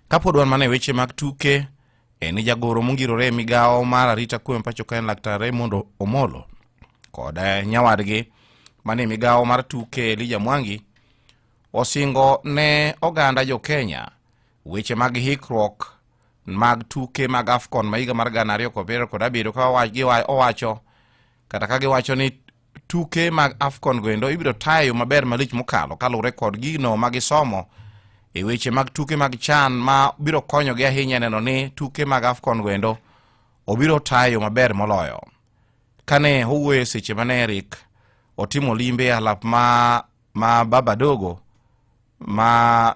Kapod wan mana e weche mag tuke, en jagoro mongirore e migawo mar arita kwe pacho ka en laktar Raymond Omolo kod eh, nyawadgi mane e migawo mar tuke Elija Mwangi osingo ne oganda jo Kenya weche mag hikruok mag tuke mag AFCON ma higa mar gana ariyo kod abiriyo kod abiriyo ka owacho kata ka giwacho ni tuke mag afcon goendo ibiro tayo maber malich mokalo kaluwore kod gino ma gisomo e weche mag tuke mag chan ma biro konyogi ahinya neno ni tuke mag afcon goendo obiro tayo maber moloyo kane owuoye seche mane erik otimo limbe alap ma, ma babadogo ma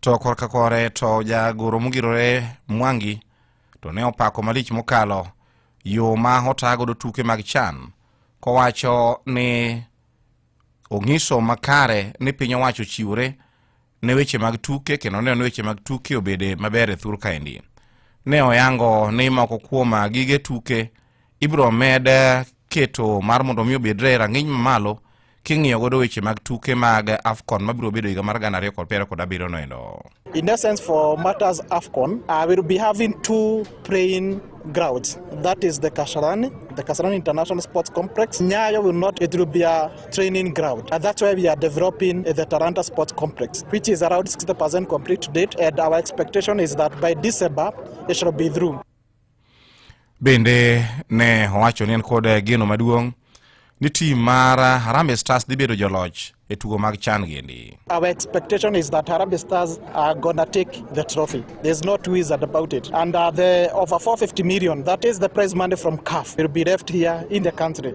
to korka kore to jagoro mogirore mwangi to ne opako malich mokalo yo ma otagodo tuke mag chan kowacho ni ong'iso makare ni piny owacho chiwore ne weche mag tuke kendo neno ni weche mag tuke obede maber e thur kaendi ne oyango ni moko kuom gige tuke ibiro med keto mar mondo mi obedre e rang'iny mamalo king'iyo godo weche mag tuke mag AFCON mabiro bedo higa mar gana ariyo kod piero kod abiriyo no endo. In essence for matters AFCON, uh, we'll be having two praying grounds. That is the Kasarani, the Kasarani International Sports Complex. Nyayo will not, it will be a training ground. And that's why we are developing the Taranta Sports Complex, which is around 60% complete to date. And our expectation is that by December, it shall be through. Bende ne owacho ni en kod geno maduong' ni tim mar Harambee Stars dhi bedo joloch e tugo mag chan giendi. Our expectation is that Harambee Stars are gonna take the trophy. There's no two ways about it. And uh, the over 450 million, that is the prize money from CAF, will be left here in the country.